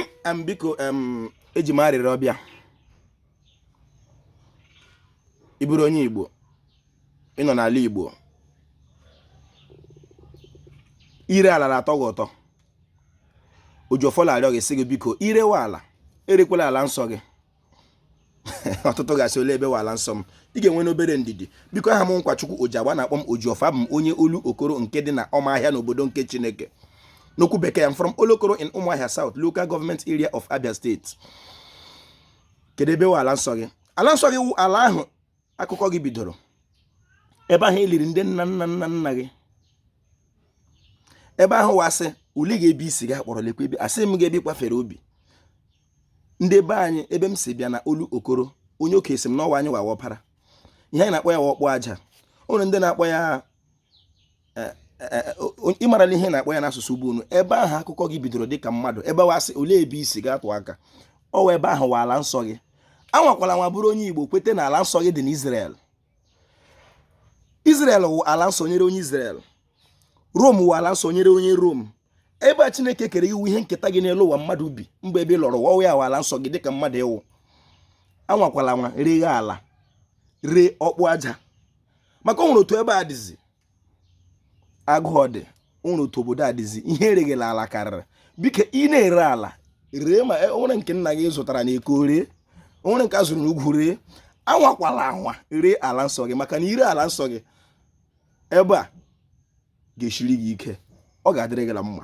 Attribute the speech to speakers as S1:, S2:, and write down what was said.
S1: em biko em eji m arịrịọ bịa ị bụrụ onye igbo ị nọ n'ala igbo ire ala na-atọ gị ụtọ oji ọfọ la-arịọ gị sị gị biko irewe ala erekwala ala nsọ gị ọtụtụ ga-asị ole ebe wụ ala nsọ m ị ga-enwenụ obere ndidi biko aha m nkwachukwu ojiagba na-akpọ m oji ọfọ abụ m onye olu okoro nke dị na ọma ahịa n'obodo nke chineke n'okwu bekee i'm from olokoro in ụmụahịa south local government area of abia steeti kedu ebe ala nsọ gị ala nsọ gị wụ ala ahụ akụkọ gị bidoro ebe ahụ eliri ndị nna nna nna nna gị ebe ahụ wụ a sị uli ga-ebi isi gị akpọrọ lekwa ebe asị m ga-ebi kwafere obi ndị be anyị ebe m si bịa na olu okoro onye oke si m n'ọwa anyị wawa ọpara ihe anyị na-akpọ ya wụ ọkpụ aja o nwere ndị na-akpọ ya eh, eh, eh, ịmarala ihe na-akpọ ya n'asụsụ igbo unu ebe ahụ akụkọ gị bidoro dịka mmadụ ebe wụ a sị olee ebe i si ị ga-atụ aka ọ wụ ebe ahụ wụ ala nsọ gị anwakwala anwa bụrụ onye igbo kweta na ala nsọ gị dị n'Israel Izrel wụ ala nsọ nyere onye Izrel Rom wụ ala nsọ nyere onye Rom ebe a Chineke kere gị wụ ihe nketa gị n'elu ụwa mmadụ bi mgbe ebe ị lọrọ ụwa ọ wụ ya wụ ala nsọ gị dịka mmadụ ị wụ anwakwala anwa reghe ala ree ọkpụ aja maka ọ nwere otu ebe a dịzi agụụ ọ dị o nwere otu obodo a dịzi ihe ereghela ala karịrị biko ị na-ere ala ree ma e, o nwere nke nna gị zụtara na eko ree o nwere nke a zụrụ n'ugwu ree anwakwala anwa ree ala nsọ gị maka na ire ala nsọ gị ebe a ga-eshiri gị ike ọ ga-adịrị gị na mma